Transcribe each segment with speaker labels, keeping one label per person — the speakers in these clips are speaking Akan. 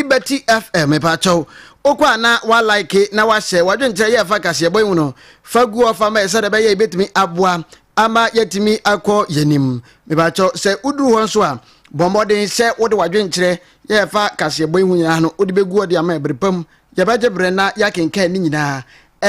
Speaker 1: Liberty FM mepakyɛw wokɔ a na walike na wahyɛ wadwenkyerɛ yɛ ɛfa kaseɛbɔ yi ho no fa gu hɔ fa ma yɛ sɛdeɛ ɛbɛyɛ yɛbɛtumi aboa ama yɛatumi akɔ yɛnim mepakyɛw sɛ woduru hɔ nso a bɔ mmɔden sɛ wode wadwenkyerɛ yɛ ɛfa kaseɛbɔ yi ho nyinaa no wode bɛgu hɔ de ama ɛbere pam yɛbɛgye berɛ na yɛakenkan ne nyinaa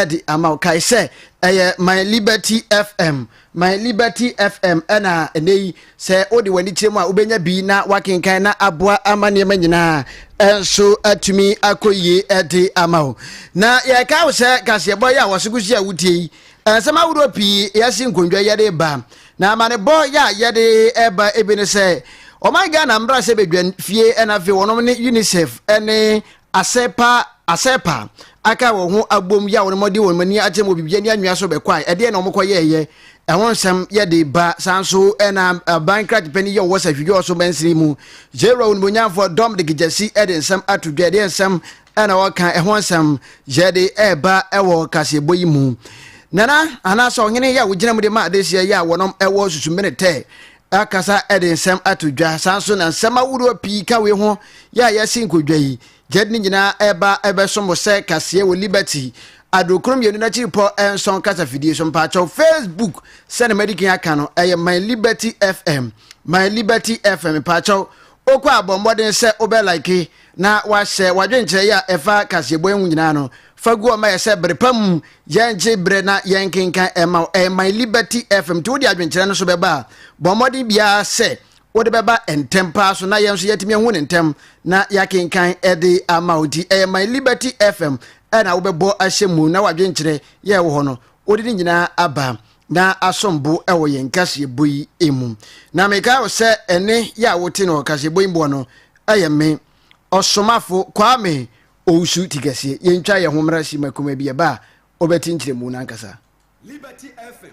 Speaker 1: de ama wo. Kae sɛ ɛyɛ My Liberty FM. My Liberty FM ɛna ɛnɛ yi sɛ wode w'ani kyerɛ mu a wobɛnya bi na wakenkan na aboa ama nneɛma nyinaa ɛnso atumi akɔ yie ɛde ama wo. Na yɛka wo sɛ kaseɛbɔ yi a wɔse kosi a wotie yi nsɛm ahodoɔ pii yɛse nkondwa yɛde ba na amanebɔ yɛ a yɛde ɛba ebi ne sɛ ɔman Ghana mmra sɛ bɛdwan fie ɛna afei wɔnom ne UNICEF ɛne Asɛpa, Asɛpa, aka wɔn ho abom yɛ a wɔn de wɔn ani akyerɛ wɔ biribiara ne anwea so bɛkɔae. Ɛdeɛn na wɔkɔyɛeɛ? Ɛho nsɛm yɛ de ba. Saa nso na aban krakyepanin yi a ɔwɔ Sahwidwoɔ so mansini mu, Jeroa Onimonyamfoɔ Dominic Gyasi de nsɛm ato dwa. Ɛdeɛn nsɛm na ɔka? Ɛho nsɛm yɛ de reba wɔ kaseɛbɔ yi mu. Nana anaasɛ Ɔhene yi a ɔgyina mu de ma adehyɛ yi a wɔnom wɔ Susumene Tɛ akasa de nsɛm ato dwa saa nso na nsɛm ahoroɔ pii ka wei ho yɛ a yɛasi nkɔdwa yi gyɛd ne nyinaa ɛba ɛbɛso mo sɛ kaseɛ wɔ liberty adokoro mmienu no akyiri pɔ ɛnsɔn kasafidie so mpaakyɛw facebook sɛne madikin aka no ɛyɛ my liberty fm my liberty fm mpaakyɛw wokɔ a bɔ mmɔden sɛ wobɛ like na wahyɛ w'adwenkyerɛ yi a ɛfa kaseɛbɔ yi ho nyinaa no, fa gu hɔ ma yɛ sɛ bere pa mu yɛngye berɛ na yɛnkenkan ɛma wo. Ɛyɛ My Liberty FM. Nti wode adwenkyerɛ no so bɛba a, bɔ mmɔden biara sɛ wode bɛba ntɛm paa so na yɛn nso yɛatumi ahu no ntɛm na yɛakenkan de ama wo. Nti ɛyɛ My Liberty FM ɛna wobɛbɔ ahyɛ mu na w'adwenkyerɛ yɛ wɔ hɔ no wode ne nyinaa aba na asom bo wɔ yɛn kaseɛbɔ yi mu. Na mekae wo sɛ ɛne yɛ a wote no wɔ kaseɛbɔ yi mu hɔ no, Ɛyɛ me, Ɔsomafo Kwame Owusu Tikɛseɛ. Yɛntwa yɛn ho mmra Sima Kuma bi ɛba a wobɛte nkyerɛmu no ankasa. Liberty
Speaker 2: FM,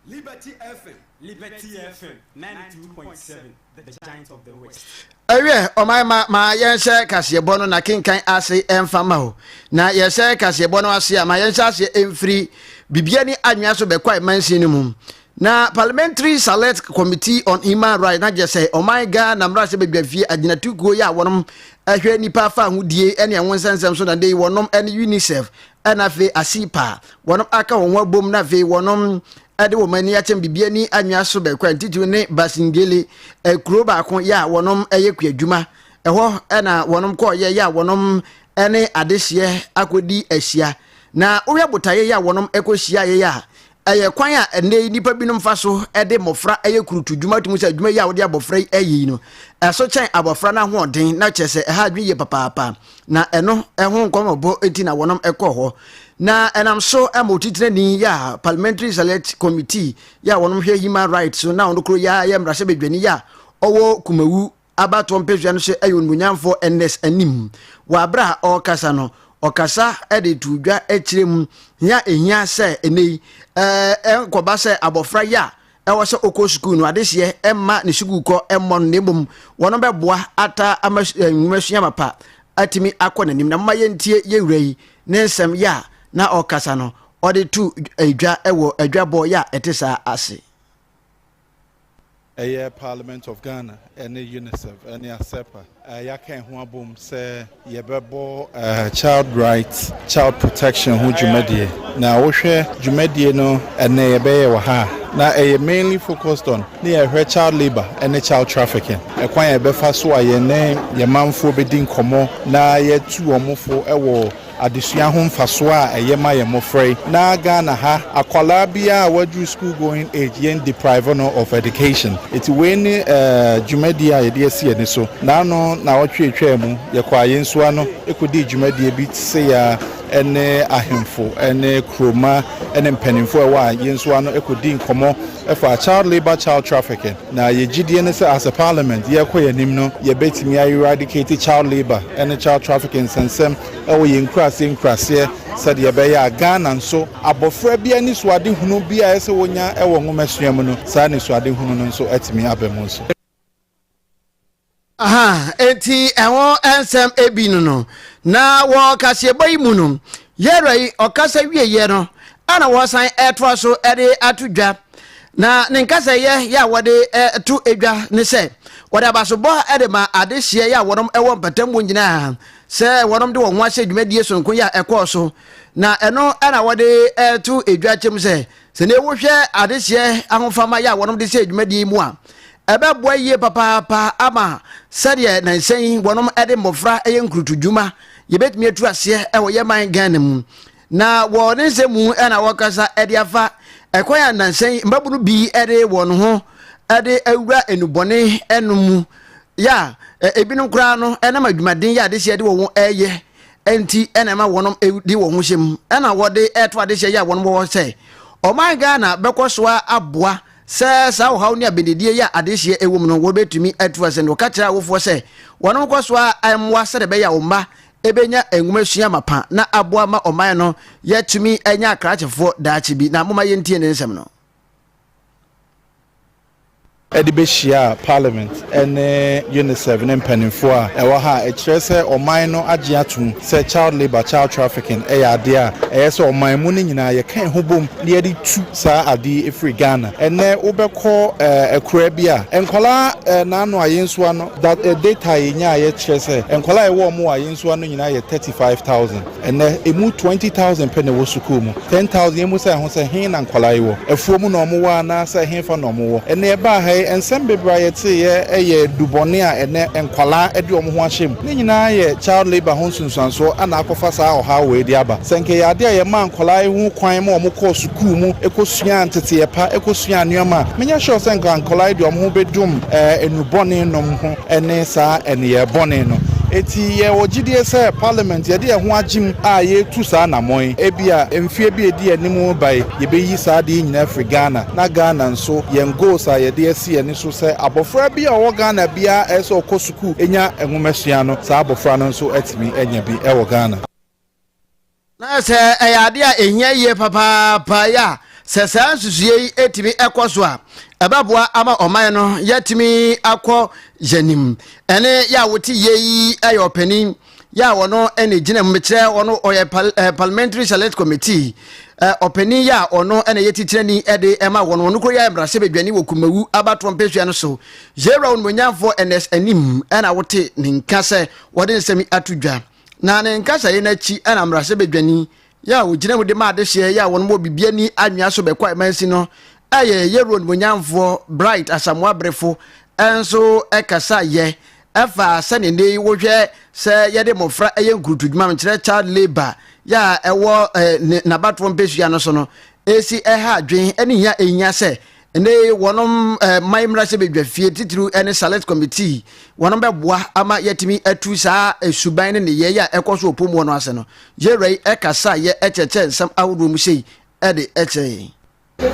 Speaker 2: Liberty FM, Liberty FM 92.7 The Giant of the West. Ɛwiɛ, ɔman
Speaker 1: ma ma yɛnhyɛ kaseɛbɔ no na kenkan ase ɛmfa ma o. Na yɛhyɛ kaseɛbɔ no ase a, ma yɛnhyɛ aseɛ ɛmfiri Bibiani Anwea so bɛkɔ Amansin no mu. Na Parliamentary Select Committee on Human Rights na gye sɛ ɔman Ghana mmarahyɛbadwafie agyinatukuo yi a wɔnom hwɛ nnipa fahodie ɛne ɛho nsɛnsɛm so na dei wɔnom ɛne UNICEF ɛna afei ACIPA wɔnom aka wɔn ho abom na afei wɔnom ɛde wɔn ani akyɛm bibiani anwea so bɛkɔ ntitiri ne Basingele ɛkuro baako yɛ a wɔnom ɛyɛ kuadwuma ɛhɔ ɛna wɔnom kɔɔ yɛ yɛ a wɔnom ɛne adehyeɛ akɔdi ahyia na wohwɛ botaeɛ yɛ a wɔnom ɛkɔ hyia yɛ a Ɛyɛ kwan a ɛnnɛ yi nnipa binom fa so de mmofra yɛ kurutu dwuma. Tumi sɛ adwuma yi a wode abɔfra yi ayi no, ɛso kyɛn abɔfra no ahoɔden, na kyerɛ sɛ ɛha adwene yie papaapa. Na ɛno ho nkɔmmɔbɔ nti na wɔnom kɔɔ hɔ. Na ɛnam so ma otitenani yɛ a Parliamentary Select Committee yɛ a wɔnom hwɛ human rights so na ɔno koro yɛ a yɛ mmarahyɛbadwani yɛ a ɔwɔ Kumawu abatoɔ mpesua no hyɛ Ayuonmunyamfoɔ Ernest anim. Wɔ aberɛ a ɔrekasa no, ɔkasa de too dwa kyerɛ mu hia a ɛhia sɛ ɛnnɛ yi ɛnkɔba sɛ abɔfra yɛ a ɛwɔ sɛ ɔkɔ sukuu no adehyeɛ mma ne sukuukɔ mmɔ no na mmom wɔn bɛboa ataa ama nwomasua mapa atumi akɔ n'anim. Na moma yɛntie yɛwura yi ne nsɛm yɛ a na ɔkasa no ɔde to dwa wɔ adwabɔ yɛ a ɛte saa ase. Ɛyɛ
Speaker 3: Parliament of Ghana ne UNICEF ne ASEPA a yɛaka yɛn ho abom sɛ yɛbɛbɔ Child Rights, Child Protection ho dwumadie. Na wohwɛ dwumadie no ɛnɛ yɛbɛyɛ wɔ ha a, na ɛyɛ mainly focused on ne yɛhwɛ child labour ne child trafficking. Ɛkwan a yɛbɛfa so a yɛne yɛn manfoɔ bɛdi nkɔmmɔ na yɛatu wɔn fo wɔ. Adesua ho mfasoɔ a ɛyɛ ma yɛn mmɔfra yi. Na Ghana ha akwadaa biara a waduru school going age yɛn deprive no of education. Ɛti wei ne dwumadie a yɛde asi yɛn ani so. Na ano nnawɔtwe a ɛtwaa mu yɛkɔɔ Ayensu ano kɔdii dwumadie bi se ya ne ahemfo ne kuroma ne mpaninfoɔ a ɛwɔ Ayensu ano kɔdii nkɔmmɔ faa child labour, child trafficking. Na yɛ gyidie ne sɛ as a parliament yɛrekɔ yɛn anim no yɛbɛtumi a eradicate child labour ne child trafficking nsɛnsɛm wɔ yɛn nkuraseɛ nkuraseɛ sɛdeɛ ɛbɛyɛ a Ghana nso abɔfra biara anisoadehunu bi a ɛyɛ sɛ wɔnya wɔ nwomasua mu no saa anisoadehunu no nso atumi aba mu nso. Aha,
Speaker 1: enti ɛho nsɛm bi no no. Na wɔ kaseɛbɔ yi mu no, Yɛrɛ yi ɔkasa wieɛ no na wɔsan ɛtoa so de ato dwa. Na ne nkasa yɛ yɛ a wɔde to dwa ne sɛ wɔde abasobɔ de ma adehyeɛ yɛ a wɔnom ɛwɔ mpatamu nyinaa sɛ wɔnom de wɔn ho ahyɛ dwumadie sononko yɛ a ɛkɔɔ so. Na ɛno na wɔde to dwa kyɛm sɛ sɛdeɛ wohwɛ adehyeɛ ahofama yɛ a wɔnom de hyɛ dwumadie yi mu a Ɛbɛboa yie papaapa ama sɛdeɛ nansa yi wɔnom de mmɔfra yɛ nkurutudwuma, yɛbɛtumi atu aseɛ wɔ yɛ man Ghana mu. Na wɔ ne nsɛm mu na wɔkasa de afa ɛkwan a nansa yi mmabunu bi de wɔn ho de awura nnubɔne no mu yɛ a ebinom koraa no nam adwumaden yɛ adehyɛ de wɔn ho yɛ nti na ɛma wɔn de wɔn ho hyɛ mu na wɔde ɛto adehyɛ yɛ a wɔn wɔ sɛ ɔman Ghana bɛkɔ so aboa Sɛ saa ɔhaw ne abɛdidie yi a adehyeɛ wom no wɔbɛtumi atu ase no, ka kyerɛ awofoɔ sɛ wɔnom nkɔ so ara mmoa sɛdeɛ ɛbɛyɛ a wɔn mma bɛnya nwoma sua mapa na aboa ma ɔman no yɛatumi anya akrakyefoɔ daakye bi. Na momma yɛntie ne nsɛm no.
Speaker 3: de bɛhyiaa Parliament ne UNICEF ne mpanimfoɔ a ɛwɔ ha a ɛkyerɛ sɛ ɔman no agye atom sɛ child labour, child trafficking, yɛ adeɛ a ɛyɛ sɛ ɔman mu no nyinaa yɛka ɛho bom na yɛde tu saa adeɛ yi firi Ghana. Ɛnnɛ wobɛkɔ akuraa bi a nkwadaa na ano ayensua no, data a yɛnyaeɛ kyerɛ sɛ nkwadaa a ɛwɔ wɔn wɔ ayensua no nyinaa yɛ thirty five thousand. Ɛnnɛ, emu twenty thousand pɛ na ɛwɔ sukuu mu. Ten thousand yi mmisa yɛn ho sɛ, He na nkwadaa yi wɔ? Afuom na wɔwɔ anaasɛ hefa na wɔwɔ? Ɛnnɛ yɛbaa ha yi, nsɛm bebree a yɛteeɛ yɛ dubɔne a ɛnnɛ nkwadaa de wɔn ho ahyɛ mu. Ne nyinaa yɛ child labour ho nsunsuansoɔ na akɔfa saa ɔhaw wei de aba. Sɛ anka ɛyɛ adeɛ a yɛmaa nkwadaa yi ho kwan ma wɔkɔɔ sukuu mu kɔsuaa nteteeɛ pa, kɔsuaa nneɛma a, menyɛ sure sɛ anka nkwadaa yi de wɔn ho bɛdum nnubɔne nom ho. ne saa nneyɛɛ bɔne no. Enti yɛwɔ gyidie sɛ Parliament yɛde yɛn ho agye mu a yɛretu saa anammɔn yi. Ebia mfeɛ bi a ɛdi anim reba yi, yɛbɛyi saa adeɛ yi nyinaa afiri Ghana, na Ghana nso, yɛn goals a yɛde asi yɛn ani so sɛ abɔfra biara a ɔwɔ Ghana biara a ɛsɛ sɛ ɔkɔ sukuu nya nwomasua no, saa abɔfra no nso atumi anya bi wɔ Ghana.
Speaker 1: Na sɛ ɛyɛ ade a ehia yie papaapa yi a, sɛ saa nsusuiɛ yi tumi kɔ so a, ɛbɛboa ama ɔman no yɛatumi akɔ yɛn anim. Ɛne yɛ a wote yie yi yɛ ɔpanin yɛ a ɔno na egyina mu mekyerɛ ɔno ɔyɛ pal eh, parliamentary select committee eh, ɔpanin yɛ a ɔno na yɛ titirani de ɛma wɔn ɔno koro yɛ mmarahyɛ badwani wɔ kumawu abatoɔ mpesua no so yɛwura wɔn monyamfoɔ ns anim ɛna wote ne nka sɛ wɔde nsɛm ato dwa. Na ne nkasaeɛ no akyi na mmarahyɛbadwani yɛ a ɔgyina mu de ma adehyeɛ yɛ a wɔn wɔ bibiani anwea so bɛkɔ amansin no yɛ yɛ road monyamfoɔ bright asamoa berefo nso kasa yɛ ɛfa sɛ ne nne wohwɛ sɛ yɛde mmɔfra yɛ nkurutu dwuma nkyerɛ child labor yɛ a ɛwɔ nabatoɔ mpɛsua no so no ɛsi ɛha adwen ne hia ɛhia sɛ Ɛnɛ yi wɔnom ɛɛ man mmarahyɛ badwafie titiriw ne select committee wɔnom bɛboa ama yɛatumi atu saa esuban ne nneyɛe a ɛkɔ so wɔ Pomuɔ no ase no. Yɛwura yi ɛkasa yɛ ɛkyerɛkyerɛ nsɛm ahodoɔ mu sei ɛde ɛkyerɛ yɛn.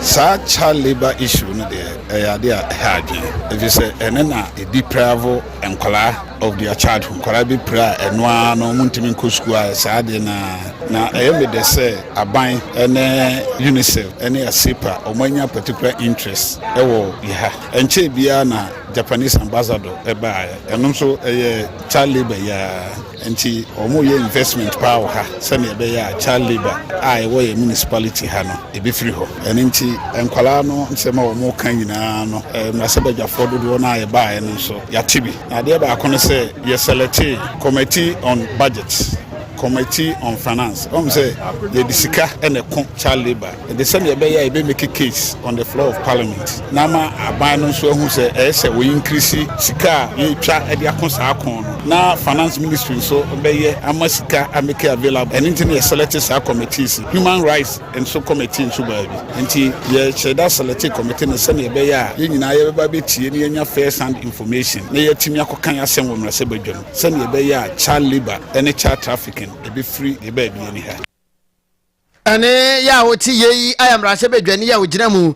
Speaker 1: Saa
Speaker 4: child labour issue no deɛ ɛyɛ adeɛ a ɛha adwene efisɛ ɛno na ɛdepraivo nkwadaa. of their childhood nkwadaa bi pere a ɛno ara no wɔntumi nkɔ sukuu a saa adeɛ no ara na ɛyɛ me dɛ sɛ aban ne unicef ne asepa wɔanya particular interest wɔ yɛ ha ɛnkyɛɛ biara na japanese ambassador ɛbaeɛ ɛno nso ɛyɛ child labour yɛa nti wɔyɛ investment paa wɔ ha sɛdeɛ ɛbɛyɛ a child labour a ɛwɔ yɛ municipality ha no ɛbɛfiri hɔ ɛno nti nkwadaa no nsɛm a wɔka nyinaa no mmarahyɛbadwafoɔ dodoɔ no a yɛbaeɛ no nso yɛate bi. Na adeɛ baako ne sɛ yɛsɛlɛtee Committee on Budget, Committee on Finance. Woahu sɛ yɛde sika na ɛko child labour de sɛdeɛ ɛbɛyɛ a yɛbɛ make case on the floor of parliament na ama aban no nso ahu sɛ ɛyɛ sɛ wɔ increase sika a yɛtwa de ako saa ko no na finance ministry nso bɛyɛ ama sika a make available. Ɛno nti na yɛsɛlɛte saa committees, human rights, nso kɔmete nso baabi. Nti yɛhyɛ da selɛte kɔmete no sɛnea ɛbɛyɛ a yɛn nyinaa yɛbɛba abɛtie na yɛanya first hand information na yɛatumi akɔka yɛn asɛm wɔ mmarahyɛ badwam sɛnea ɛbɛyɛ a child labour ne child trafficking ɛbɛfiri yɛn baabi ani ha. Ɛne
Speaker 1: yɛ a wɔte yei ayɛ mmarahyɛ badwani a ɔgyina mu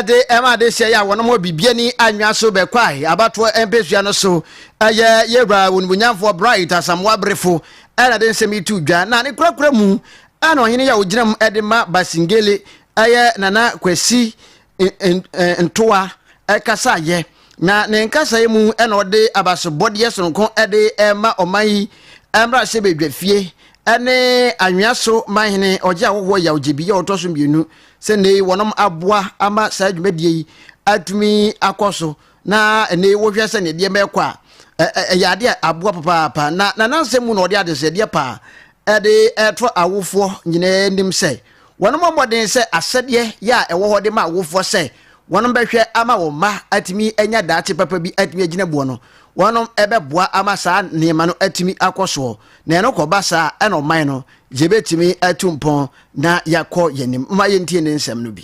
Speaker 1: de ɛma adehyeɛ yɛ a wɔnom wɔ biribiani anwea so bɛkwae abatoɔ mpɛsua no so ɛyɛ yɛwura wɔnumunyamfoɔ Bright Asamoah Berefo ɛna de nsɛm yi to dwa na ne kurakura mu Ɛna ɔhene yi a ɔgyina mu de ma Basingele yɛ Nana Kwasi Ntoa kasaeɛ. Na ne nkasaeɛ mu na ɔde abasobɔdeɛ sononko de rema ɔman yi mmarahyɛbadwafie ne anwea so manhene ɔgye ahɔhoɔ Yaw Gyebi a ɔtɔ so mmienu sɛ nnɛ yi wɔnom aboa ama saa dwumadie yi atumi akɔ so Na ɛnɛ yi wohwɛ sɛ nneɛma ɛkɔ a ɛyɛ adeɛ a aboa papaapa na na n'asɛm mu na ɔde adesɛdeɛ paa ɛde ɛto awofoɔ nyinaa anim sɛ wɔn mmɔden sɛ asɛdeɛ yɛ a ɛwɔ hɔ de ma awofoɔ sɛ wɔn bɛhwɛ ama wɔn mma atumi anya daakye papa bi atumi agyina buo no wɔn ɛbɛboa ama saa nneɛma no atumi akɔ soɔ na ɛno kɔba saa ɛna ɔman no yɛbɛtumi atu mpɔn na yɛakɔ yɛn anim ma yɛntie ne nsɛm no bi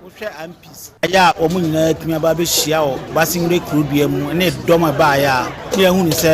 Speaker 5: Wohwɛ amps. Ɛyɛ a wɔn nyinaa atumi aba abɛhyia wɔ Basingre kurudua mu ne dɔm a ɛbaeɛ a ne yɛahunu sɛ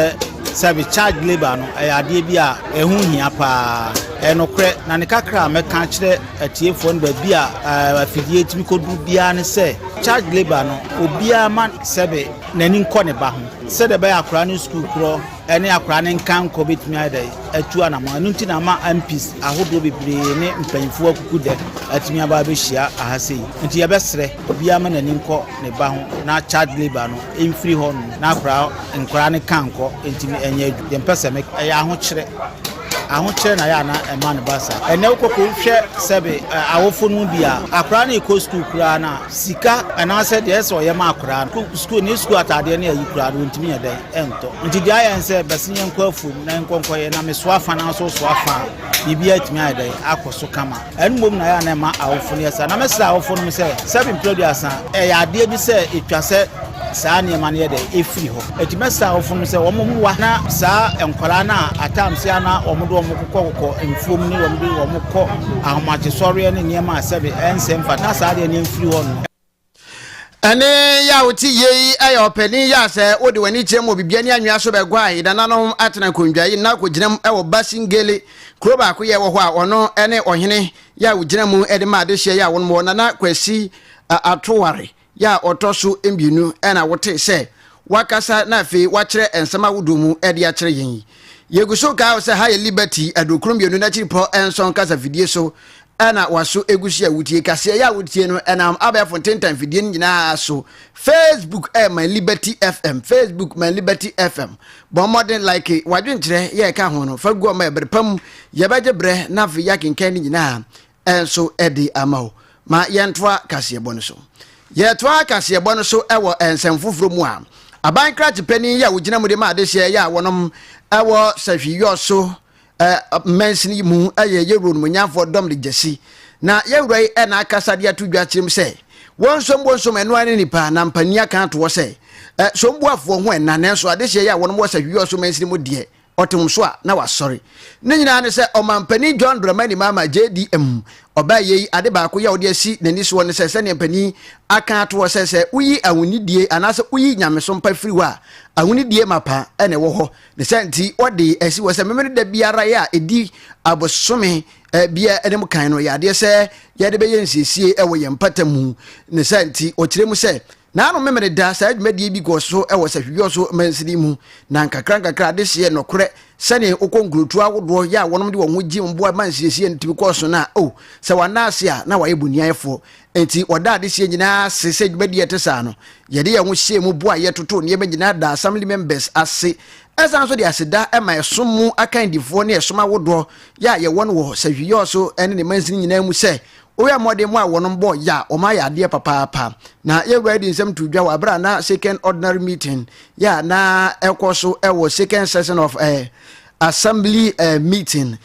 Speaker 5: service charge labour no ɛyɛ adeɛ bi a ɛho hia paa. Ɛyɛ nokorɛ na ne kakra a mɛka akyerɛ atiefoɔ no baabi a afidie tumi kɔduru biara ne sɛ charge labour no obiara ma sɛbe n'ani nkɔ ne ba ho sɛdeɛ ɛbɛyɛ akwaraa no sukuu korɔ ne akwadaa no nkankɔ bɛtumi ayɛ dɛ atu anamɔ ɛno nti na ama mps ahodoɔ bebree ne mpanyinfoɔ akuku dɛ atumi aba abɛhyia aha sei nti yɛbɛsrɛ obiara ma n'ani nkɔ ne ba ho na child labour no mfiri hɔ nom na akwadaa nkwadaa no kankɔ ntumi ɛnyɛ adu deɛ mpɛ sɛ me ɛyɛ ahokyerɛ ahokyerɛ na yɛ ana ɛma no ba saa ɛnɛ wokɔkɔ hwɛ sɛbe awofo no bi a akwadaa no ɛkɔ sukuu koraa no a sika anaasɛ deɛ ɛsɛ ɔyɛ ma akwadaa no sukuu ne sukuu ataadeɛ ne ayi koraa no ɔntumi yɛ dɛn ɛntɔ nti deɛ ayɛ nsɛ bɛse yɛn nkɔ afuom na nkɔ nkɔ yɛ na mesoa fa na nso soa fa a biribi atumi ayɛ dɛ akɔ so kama ɛno mmom na yɛ a na ɛma awofo no yɛ saa na mɛsrɛ awofo no m sɛ sɛbi mprɛduasa ɛyɛ adeɛ bi sɛ ɛtwa sɛ saa nneɛma no yɛ dɛ ɛfiri hɔ ɛti mɛsrɛ awofo no sɛ wɔn mmoa na saa nkwaraa no a atamse a na wɔn de wɔn kokɔkokɔ mfuom ne wɔn de wɔn kɔ ahomakyesɔreɛ ne nneɛma a sɛbi ɛnsɛ mfa na saa deɛ no ɛmfiri hɔ no Ɛne
Speaker 1: yɛ a wote yie yi yɛ ɔpanin yɛ a sɛ wode w'ani kyerɛ mu wɔ biribi ani anwea so bɛguae nananom atena nkonnwa yi na kɔgyinam wɔ Basingele kuro baako yɛ wɔ hɔ a ɔno ne ɔhene yɛ a wogyina mu de ma adehyeɛ yɛ a wɔn wɔ Nana Kwasi Atoware yɛ a ɔtɔ so mmienu na wote sɛ wakasa na afei wakyerɛ nsɛm ahodoɔ mu de akyerɛ yɛn yi. Yɛgu so kae sɛ ha yɛ Liberty aduokron mmienu n'akyiripɔ nson kasafidie so na waso egu so a wutie. Kaseɛ yi a wotie no ɛnam abɛɛfo ntentan fidie no nyinaa so. Facebook ɛyɛ My Liberty FM. Facebook My Liberty FM. Bɔ mmɔden like w'adwenkyerɛ yɛ ɛka ho no fa gu ɔma ɛbere pa mu. Yɛbɛgye berɛ na afei yɛakenkan ne nyinaa nso de ama wo. Ma yɛntoa kaseɛbɔ no so. Yɛtoa kaseɛbɔ no so wɔ nsɛm foforɔ mu a, aban krakye panin yi a ɔgyina mu de ma adehyeɛ yɛ a wɔnom wɔ Sahwiyɔ so Mmansini yi mu yɛ Yeroboam Nomonyamfoɔ dɔm de gyasi, na yɛn Wura yi na akasa de ato dwa akyerɛ mu sɛ, Wɔnsom wɔnsom ɛno ara ne nnipa, na mpanin aka ato hɔ sɛ, Somboafoɔ ho ɛnna, nanso adehyeɛ yi a wɔnom wɔ Sahwihwɛso mansini mu deɛ, ɔte wɔn so a, na wasɔre. Ne nyinaa ne sɛ, Ɔmampanin John Dramani Mahama, JDM, ɔbaeɛ yi, ade baako yi a ɔde asi n'ani soɔ ne sɛ, sɛdeɛ mpanin aka ato hɔ sɛ, sɛ woyi ahonidie anaasɛ woyi nyamesompa firi hɔ a, ahonidie mapa na ɛwɔ hɔ. Ne saa nti, wɔde asi hɔ sɛ Memeneda biara a ɛdi abosome biara anim kan no, yɛ adeɛ sɛ yɛde bɛyɛ nsiesie wɔ yɛn mpata mu. Ne saa nti, wɔkyerɛ mu sɛ, Nanom Memeneda, saa dwumadie bi kɔɔ so wɔ Sahwihwɛ so mansini mu, na nkakrankakra adehyeɛ, nɔkorɛ, sɛnee wokɔ nkurotuo ahodoɔ yɛ a wɔnom de wɔn ho gye mmoa ma nsiesie no tumi kɔɔ so no a, oh, sɛ wɔanna ase a, na wɔayɛ boniayɛfoɔ. Enti, wɔdaa adesua nyinaa ase sɛ dwumadi a ɛte saa no. Yɛde yɛn ho hyɛɛ mu boae, yɛtotoo nneɛma nyinaa daa Assembly members ase. Ɛsan nso de aseda ma ɛsom mu akandifoɔ ne ɛsom ahodoɔ yɛ a yɛwɔ no wɔ Sahwiɔso ne ne mansini nyinaa mu sɛ wɔyɛɛ mmɔden maa wɔnom bɔɔ yɛ a wɔayɛ adeɛ papaapa. Na yɛwuraa de nsɛm too dwa wɔ berɛ a na Second Ordinary Meeting yɛ a na ɛkɔ so wɔ Second Session of eh, Assembly eh, Meeting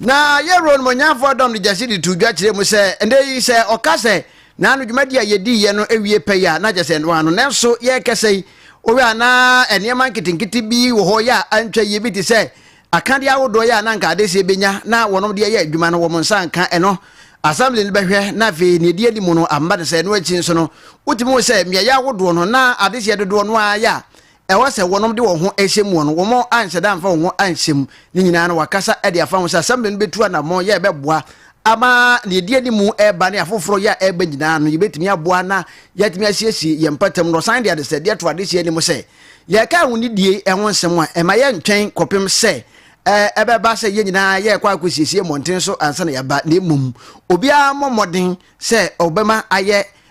Speaker 6: Na Yerono
Speaker 1: Ɔnwonyanfoɔ dɔm de gyasi de too dwa kyerɛɛ mu sɛ, Ɛnnɛ yi, sɛ ɔka sɛ, Naano dwumadie a yɛdiiɛ no awie pɛyɛ a, na kyerɛ sɛ ɛnoa no. Nanso yɛrekɛsa yi, wohwɛ a na nneɛma nketenkete bi wɔ hɔ yɛ a antwa yie, bi te sɛ akadeɛ ahodoɔ yɛ a na anka adeseɛ bɛnya na wɔnom de ayɛ adwuma no, wɔn nsa anka ɛno. Assembly no bɛhwɛ, na afei nea ɛdi anim no amma no saa. Ɛno akyi nso no, wotumi hu sɛ mmeaeɛ ahodoɔ no, na adeseɛ dodoɔ no ara yɛ a ɛwɔ sɛ wɔnom de wɔn ho hyɛ mu no, wɔn anhyɛ da amfa wɔn ho anhyɛ mu. Ne nyinaa no, wakasa de afa ho sɛ Assembly no bɛtu anammɔn yɛ ɛbɛboa ama deɛ ɛdi anim ɛreba ne afoforɔ yɛ a ɛreba nyinaa no, yɛbɛtumi aboa na yɛatumi asiesie yɛn mpatamu. Na ɔsan de adesrɛdeɛ to adehyeɛ anim sɛ, Yɛreka ahonidie ho nsɛm a, ɛma yɛntwɛn kɔpem sɛ ɛbɛba sɛ yɛn nyinaa yɛrekɔ akɔsiesie mmɔnten so ansa na yɛaba, na mmom obiara mmɔ mmɔden sɛ ɔbɛma ayɛ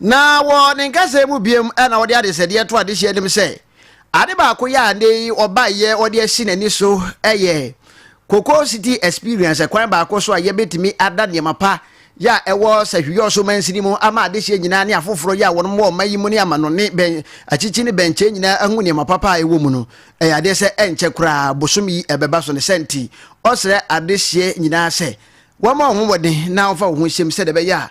Speaker 6: Na
Speaker 1: wɔ ne nkasɛɛ mu biom na ɔde adesɛdeɛ to adehyeɛ anim sɛ, ade baako yɛ a nnɛ yi ɔbaeɛ ɔde asi n'ani so yɛ Cocoa City Experience, ɛkwan baako so a yɛbɛtumi ada nneɛma pa yɛ a ɛwɔ Sahwiɔso mansini mu ama adehyeɛ nyinaa ne afoforɔ yɛ a wɔnom wɔ ɔman yi mu ne amanɔne bɛn akyikyi ne bɛnkyɛ nyinaa ahu nneɛma papa a ɛwɔ mu no. Ɛyɛ adeɛ sɛ ɛnkyɛ koraa bosome yi ɛbɛba so ne sɛ nti ɔsrɛ adehyeɛ nyinaa sɛ wɔmɔ wɔn ho mmɔden na wɔmfa wɔn ho nhyem sɛdeɛ ɛbɛyɛ a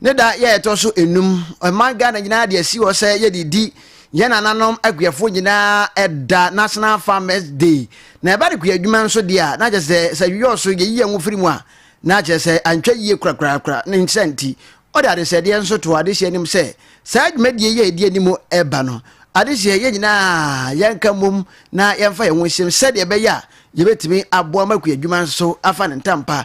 Speaker 1: Ne da yɛ ɛtɔ so enum. Ɔman Ghana nyinaa de asi hɔ sɛ yɛde di yɛn nananom akuafoɔ nyinaa ɛda, National Farmers Day. Na ɛba ne kua adwuma nso deɛ a, na kyerɛ sɛ sɛ yɛyɔɔ so yɛyi yɛn ho firi mu a, na kyerɛ sɛ antwa yie korakorakora. Ne nsa nti, ɔde adesɛdeɛ nso too adehyeɛ anim sɛ saa dwumadie yi a ɛdi anim reba no, adehyeɛ yɛn nyinaa yɛnka mmom na yɛmfa yɛn ho nhyem sɛdeɛ ɛbɛyɛ a yɛbɛtumi aboa ma kua adwuma nso afa ne ntampa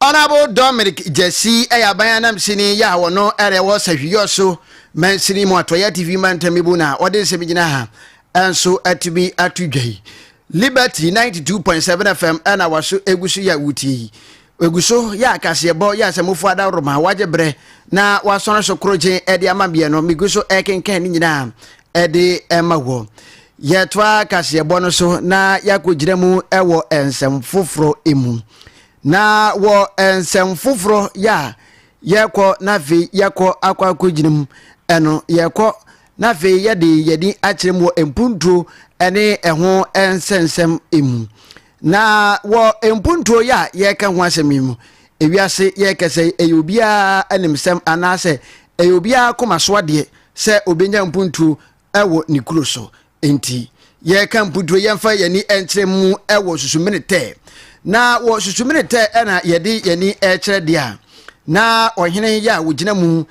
Speaker 1: Honourable Dominic Gyasi yɛ aban anamsini yi a ɔno na ɛwɔ Sahwiyɔ so mansini mu atɔeɛ atifi mantam mu na ɔde nsɛm gyina ha nso atumi ato dwa yi. Liberty ninety two point seven FM na waso egu so yɛ a wotie yi. Egu so yɛ akaseɛbɔ yɛ asɛmufo adaworoma wagye berɛ na wasɔre so korogyen de ama meɛ no megu so rekenkan ne nyinaa de ma wɔ. Yɛtoa kaseɛbɔ no so na yɛakɔgyina mu wɔ nsɛm foforɔ mu. Na wɔ nsɛm foforɔ yɛ a yɛkɔ na afei yɛkɔ akɔ akɔgyina mu ɛno yɛkɔ na afei yɛde yɛni akyerɛ mu wɔ mpuntuo ɛne ɛho nsɛnsɛm mu. Na wɔ mpuntuo yɛ a yɛka ho asɛm yi mu ewiase yɛkɛsɛ yi ɛyɛ obiara animsɛm anaasɛ ɛyɛ obiara koma so adeɛ sɛ obɛnya mpuntuo wɔ ne kuro so. Enti, yɛreka mputuro yɛmfa yɛn ani nkyerɛ mu wɔ susumene tɛ. Na wɔ susumene tɛ na yɛde yɛn ani rekyerɛ deɛ a na ɔhene yɛ a wɔgyina mu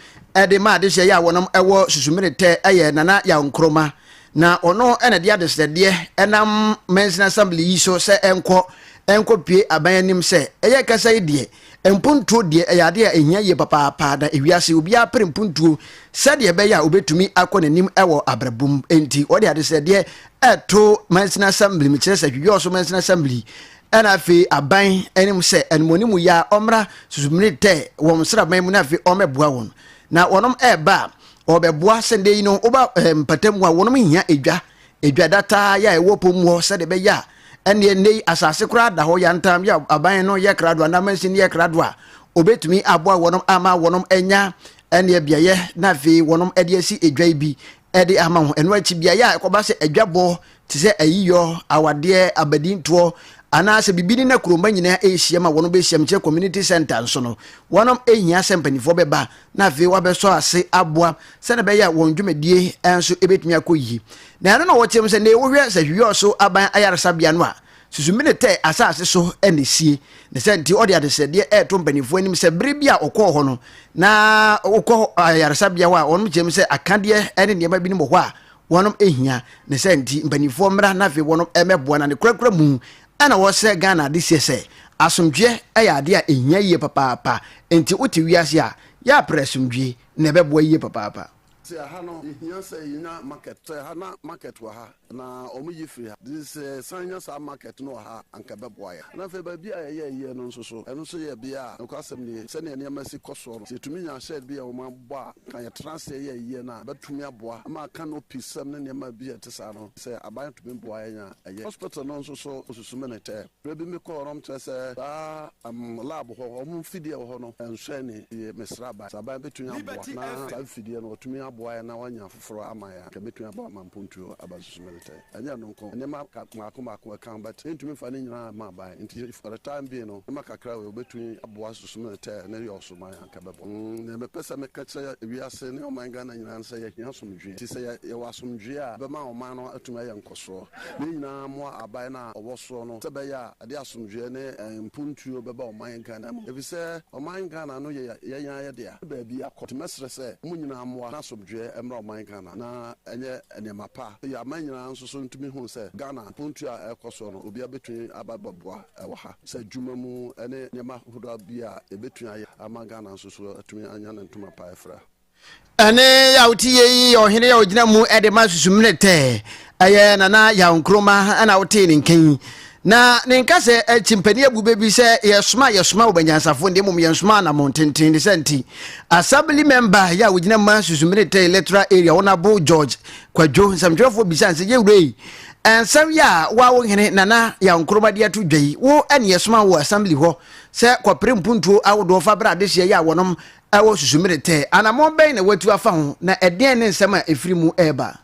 Speaker 1: de ma adehyeɛ yɛ a wɔnom wɔ susumene tɛ yɛ Nana Yaw Nkrumah. Na ɔno na de adesrɛdeɛ nam Mansin Assembly yi so sɛ ɛnkɔ ɛnkɔpue aban anim sɛ ɛyɛ kasa yi deɛ Mpontuo deɛ ɛyɛ adeɛ a ɛhia yie papaapa na ewiase obiara pere mpontuo sɛdeɛ ɛbɛyɛ a ɔbɛtumi akɔ n'anim wɔ abrabɔ mu. Enti wɔde adesrɛdeɛ reto Mansini Assembly, mekyerɛ sɛ Hwidwɔɔso Mansini Assembly ɛna afei aban anim sɛ animuoni mu yɛ a wɔmmra Susumire Tɛ wɔn sraban mu na afei wɔmmɛboa wɔn. Na wɔnom ɛreba a wɔbɛboa sɛdeɛ yi no woba mpatamu a wɔnom hia edwa edwa dataa yɛ a ɛwɔ po mu hɔ sɛdeɛ ɛbɛyɛ a ɛnneɛ nnɛ yi asase koraa da hɔ yantam yɛ aban no yɛ krado anaa mansin yɛ krado a obɛtumi aboa wɔnom ama wɔnom anya ɛnneɛ beaeɛ na afei wɔnom ɛde asi edwa yi bi ɛde ama ho ɛno akyi beaeɛ a ɛkɔba sɛ adwabɔ te sɛ ayiyɔ awadeɛ abadintoɔ anaasɛ biribi ne na kuromba nyinaa ɛrehyia ma wɔnom bɛhyia mu kyɛ community center nso no wɔnom ɛhia sɛ mpanimfoɔ bɛba na afei wɔabɛsɔ ase aboa sɛdeɛ ɛbɛyɛ a wɔn dwumadie nso bɛtumi akɔ yie. Na ɛno na wɔteam sɛ, Nea wohwɛ sɛ Hwiɔ so aban ayaresabea no a, susu Minetɛ asase so na ɛsie. Ne saa nti, ɔde adesrɛdeɛ reto mpanimfoɔ anim sɛ berɛ bi a ɔkɔɔ hɔ no, na wokɔ ayaresabea hɔ a, wɔn kyerɛ mu sɛ akadeɛ ne nneɛma binom wɔ hɔ a wɔn hia. Ne saa nti, mpanimfoɔ mmra na afei wɔn mmɛboa na ne korakora mu Ɛna wɔsrɛ Ghana adehyeɛ sɛ asomdwoeɛ yɛ adeɛ a ɛhia yie papaapa, nti wote wiase a, yɛ a prɛ asomdwoeɛ na ɛbɛboa yie papaapa. Te aha no
Speaker 7: yɛhia sɛ yɛnya market te aha na market wɔ ha na ɔmo yi firi ha nti sɛ yɛsan nya saa market no wɔ ha a anka ɛbɛboa yɛn na afei baabi a yɛyɛ yɛ no nso so ɛno nso yɛ bea a nokwasɛm nie sɛnea nneɛma si kɔ soɔ no sɛ yɛtumi nya shed bi a wɔn abɔ a anka yɛtena aseɛ yɛ yɛ no a ɛbɛtumi aboa ama canopy sɛm ne nneɛma bi a ɛte saa no sɛ aban tumi boa yɛn a. ɛyɛ hospital no nso so osusu me ne tɛ berɛ bi me kɔɔ nom kyerɛ sɛ saa um lab hɔ wɔn mfidie a ɛwɔ hɔ no ɛnhwɛ ne yie me sraban sraban bɛtumi aboa na saa mfidie no wɔtumi aboa yɛn na wɔanya afoforɔ ama yɛn a nka ɛbɛtumi aboa ma mpontuo aba susu me ne tɛ ɛnyɛ ɛno nko nneɛma mmaako mmaako ɛka ho but mentumi mfa ne nyinaa mma aban nti for the time being no nneɛma kakra wei wɔbɛtumi aboa susu me ne tɛ ne yɔɔso ma yɛn. ka bɛbɔ. Nea mepɛ sɛ meka kyerɛ wiase ne ɔman Ghana nyinaa ne sɛ yɛhia asomdwoe. Nti sɛ yɛwɔ asomdwoe a, ɛbɛma ɔman no atumi ayɛ nkɔsoɔ. Yɛn nyinaa mmoa Aban no a ɔwɔ soro no sɛ ɛbɛyɛ a ɛde asomdwoeɛ ne mpontuo bɛba ɔman Ghana mu. Efisɛ ɔman Ghana no yɛ yɛn ara yɛn dea. Yɛn baabi akɔ. Nti mɛsrɛ sɛ mo nyinaa mmoa na asomdwoeɛ mmra ɔman Ghana na ɛnyɛ nneɛma pa. Yɛn aman nyinaa nso so ntumi hunu sɛ Ghana mpontuo a ɛrekɔ soɔ no obiara bɛtumi aba abɛboa. wɔ ha sɛ adwuma mu ne nneɛma hodoɔ bi a yɛbɛtumi ayɛ ama Ghana nso so atumi anya ne ntoma pa afira. Ɛne
Speaker 1: a wote yɛ yi yɛ ɔhene a ɔgyina mu de ma susumene tɛ. Ɛyɛ Nana Yaw Nkrumah na wotee ne nka yi. Na ne nka sɛ akyimpani abu bɛ bi sɛ yɛsoma a yɛsoma wo banyansafoɔ nde mmom yɛnsoma anamɔn tenten ne sɛ nti Assembly Member yɛ a wɔgyina mu ma susumene tɛ electoral area Honourable George Kwadwo nsɛmtwerɛfoɔ bisane sɛ yɛwura yi Nsɛm yi a wo a wo hene Nana Yaw Nkrumah de ato dwa yi, wo ne yɛsoma wo wɔ Assembly hɔ sɛ kɔpere mpuntuo ahodoɔ fa bra adehyeɛ yi a wɔnom wɔ Susumiretɛ. Anammɔn bɛn na woatu afa ho, na ɛdeɛn ne nsɛm a ɛfiri mu reba?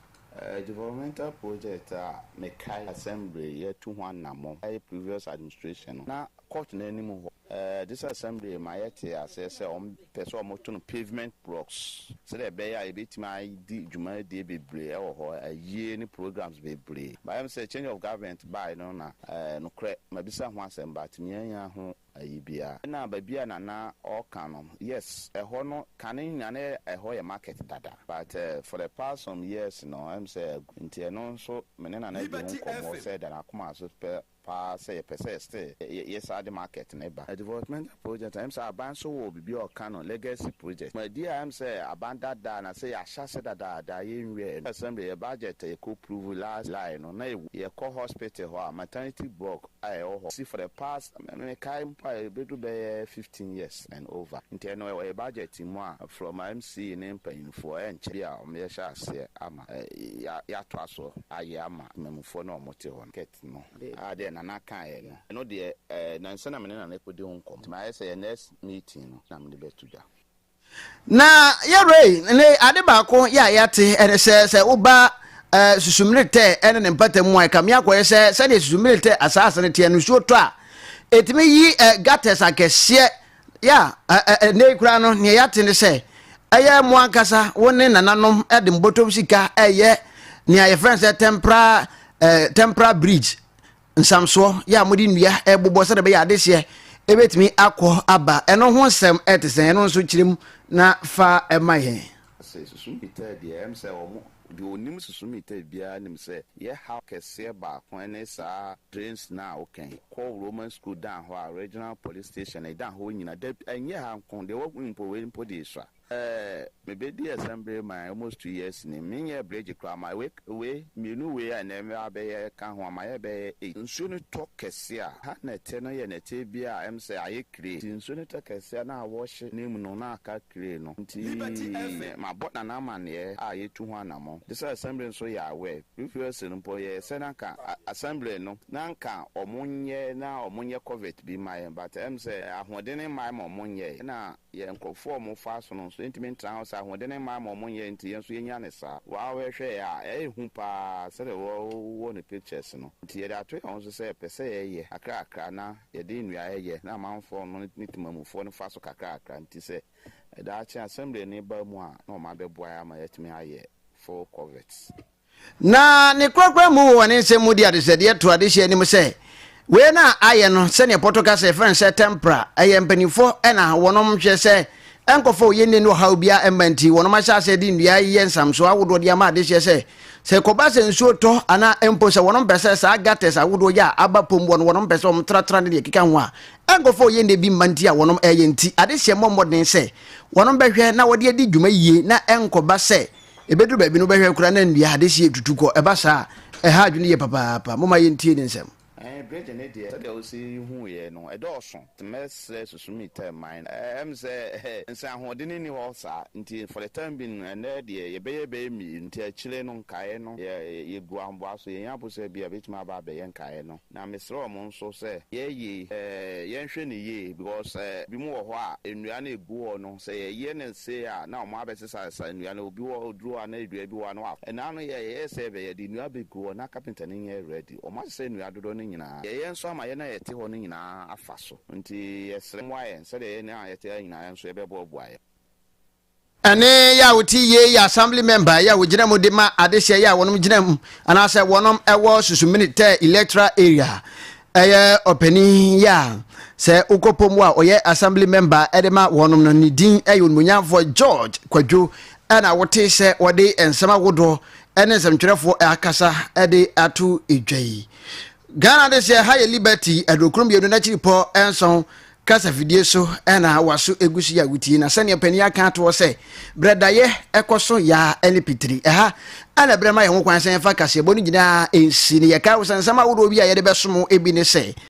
Speaker 1: Developmental
Speaker 8: project a mekae Assembly yɛatu ho anammɔn yɛ previous administration no, na court no anim hɔ. Ɛɛ, this assembly ma yɛte aseɛ sɛ wɔpɛ sɛ wɔto no pavement blocks sɛdeɛ ɛbɛyɛ a yɛbɛtumi adi dwumadie bebree wɔ hɔ, ayie ne programs bebree. Bayɛ me sɛ change of government baeɛ no na ɛɛ, nokorɛ mabisa ho asɛm but meannya ho ayi biara. Ɛna baabi a Nana ɔɔka no, yes, ɛhɔ no kane nyinaa na ɛhɔ yɛ market dada but for the past some years no ɛm sɛ agu nti ɛno nso me ne Nana di ho nkɔmmɔ sɛ ɛda n'akoma so pɛ paa sɛ yɛpɛ sɛ still yɛ yɛ saa de market no ba. Developmental project a ɛm sɛ aban nso wɔ biribi a ɔka no legacy project ma di a ɛm sɛ aban dada na sɛ yɛahyɛ ase dadaada yɛ nwiaɛ no assembly yɛ budget a yɛkɔ prove last July no na ɛwɔ yɛkɔ hospital hɔ a maternity block a ɛwɔ hɔ si for the past me kae mpo a ɛbɛdu bɛyɛ fifteen years and over nti ɛno ɛwɔ yɛ budget mu a from MC ne mpanyinfoɔ ɛnkyɛ bi a wɔn yɛhyɛ aseɛ ama yɛ yɛatoa so ayɛ ama mmamufoɔ no a wɔn te hɔ no. no. Ah, deɛ Nana kaeɛ no, ɛno deɛ, eh, nnansa na me ne Nana rekɔdi ho nkɔmmɔ. Nti mayɛ sɛ yɛn next meeting no na mede bɛto dwa. Na
Speaker 1: yɛ Ray ne ade baako yɛ a yɛate ɛne sɛ, sɛ woba eh, Susummirirtɛ ɛne ne mpata mu a, ɛkame akɔyɛ sɛ sɛdeɛ Susummirirtɛ asaase no teɛ no, nsuo tɔ a, ɛtumi yi eh, gutters akɛseɛ Ya, ɛ, ɛ, ɛnnɛ yi koraa no, nea yɛate ne sɛ ɛyɛ mo ankasa, wo ne nananom de mbɔtɔm sika ɛyɛ nea yɛfrɛ no sɛ tɛmpra, ɛ, tɛmpra bridge nsamsoɔ, yɛ a mode nnua ɛbobɔ sɛdeɛ ɛbɛyɛ adehyeɛ ɛbɛtumi akɔ aba. Ɛno ho nsɛm ɛte sɛn? Ɛno nso kyerɛ mu na fa ɛma yɛn. Sɛ susu
Speaker 8: meter deɛ ɛyɛ me sɛ wɔn. Deɛ ɔnim susu meter biara nim sɛ yɛ haw kɛseɛ baako ne saa drains no a woka yi. Kɔ Roman school dan hɔ a regional police station ɛdan hɔ nyina da bi ɛnyɛ ha nko deɛ wahu yi mpo wei mpo deɛ ɛsua. Ɛɛ mebɛdii asɛm bere man almost two years ni menyɛɛ bridge koraa ma wei. Wei, mmienu wei a nnɛ mmɛ abɛyɛ ka ho ama yɛ bɛyɛ eight. Nsuo no tɔ kɛseɛ a, ha nɛteɛ no yɛ nɛteɛ bi a ɛm sɛ ayɛ kire. Nti nsuo no tɔ kɛseɛ a na awɔhye no mu no na aka kire no. Nti mabɔ Nana amaneɛ a yɛtu ho anamɔn. Gye sɛ Assembly nso yɛ aware. Previously no mpo yɛyɛ sɛ na nka Assembly no na nka wɔn nyɛ na wɔn nyɛ covert bi mma yɛn but ɛm sɛ ahoɔdene mma yɛn ma wɔn nyɛɛ. Ɛna Yɛn nkurɔfoɔ a wɔn fa asono nso ntumi ntena hɔ saa, ahoɔdene mmaa ma wɔn nyɛ, nti yɛn nso yɛnya no saa. Wow hwɛ hwɛ a ɛyɛ hu paa sɛdeɛ wɔ wɔ ne pictures no, nti yɛde ato yɛn ho so sɛ pɛ sɛ yɛ yɛ kakra kakra na yɛde nnuaɛ yɛ na amanfoɔ no ne temamufoɔ no fa so kakra kakra, nti sɛ daakye assembly no ba mu a na wɔn abɛboa yɛn ama yɛatumi ayɛ full coverts. Na
Speaker 1: ne korakora mu wɔ ne nsɛm mu de adesrɛdeɛ to adehyeɛ anim sɛ, Wei na ayɛ no sɛdeɛ Pɔto kasa a yɛfrɛ no sɛ Tempra, ɛyɛ mpaninfoɔ na wɔnom hwɛ sɛ ɛnkɔfa oyennie ne ɔhaw biara mma nti wɔnom ahyɛ aseɛ de nnua reyɛ nsamsoɔ ahodoɔ de ama adehyeɛ sɛ sɛ ɛkɔba sɛ nsuo tɔ anaa mpo sɛ wɔnom pɛ sɛ saa gutters ahodoɔ yi a aba pom wɔ no wɔnom pɛ sɛ wɔn tratra ne deɛ ɛkeka ho a ɛnkɔfa oyennie bi mma nti a wɔnom ɛyɛ nti adehyeɛ mmɔ mmɔden sɛ wɔnom bɛhwɛ na wɔde adi dwuma yie na ɛnkɔba sɛ Ɛbɛduru baabi no wobɛhwɛ koraa na nnua adehyeɛ retutu kɔ. Ɛba saa a, ɛha adwene yie papaapa. Momma yɛntie ne nsɛm. Ɛɛ Bridget ne deɛ
Speaker 8: sɛdeɛ wosi huu yɛ no ɛdɔɔso nti mɛsrɛ susu me time mine no ɛɛm sɛ nsɛ ahoɔdene nni hɔ saa nti for the time being no ɛnnɛ deɛ yɛbɛyɛ bɛyɛ mmienu nti akyire no nkaeɛ no yɛ yɛgu ahoboa so yɛnya abosea bi a ɛbɛtumi aba abɛyɛ nkaeɛ no. Na mesrɛ wɔn nso sɛ yɛyɛ eh yɛnhwɛ no yie because eh binom wɔ hɔ a nnua no ɛgu hɔ no sɛ yɛyɛ no sei a na wɔn abɛsesasesa nnua no obi wɔ hɔ duro a na dua bi wɔ hɔ a na wafa ɛnaa no yɛyɛɛ sɛ ɛbɛyɛ yɛde nnua bɛgu hɔ na kapenta no nyɛ ready wɔn asesa nnua dodoɔ no nyinaa yɛyɛ nso ama yɛn a yɛte hɔ no nyinaa afa so nti yɛsrɛ mmoa yɛn sɛdeɛ yɛn a yɛte ha nyinaa yɛn nso yɛbɛboaboa yɛn. Ɛne
Speaker 1: yɛ a wote yie yɛ assembly member yɛ a wogyina mu de ma adehyeɛ yɛ a wɔnom gyina mu anaasɛ wɔnom wɔ susumini tɛ electoral area ɛyɛ ɔpanin yɛ a sɛ wokɔ pom wɔ a ɔyɛ assembly member de ma wɔnom no ne din ɛyɛ onimonyamfoɔ George Kwadwo ɛna wote sɛ wɔde nsɛm ahodoɔ ɛne nsɛmtwerɛfoɔ akasa ɛde ato edwa yi Ghana adehyeɛ ha yɛ Liberty adurokuro mmienu n'akyiripɔ nson Kasafidie so na w'aso gu so yi a wotie. Na sɛdeɛ panin aka ato hɔ sɛ, berɛ daeɛ ɛkɔ so yaa ne pitiri. Ɛha na berɛ ma yɛn ho kwan sɛ yɛmfa kaseɛbɔ no nyinaa nsi. Na yɛkae wo sɛ nsɛm ahodoɔ bi a yɛde bɛsom wo bi ne sɛ,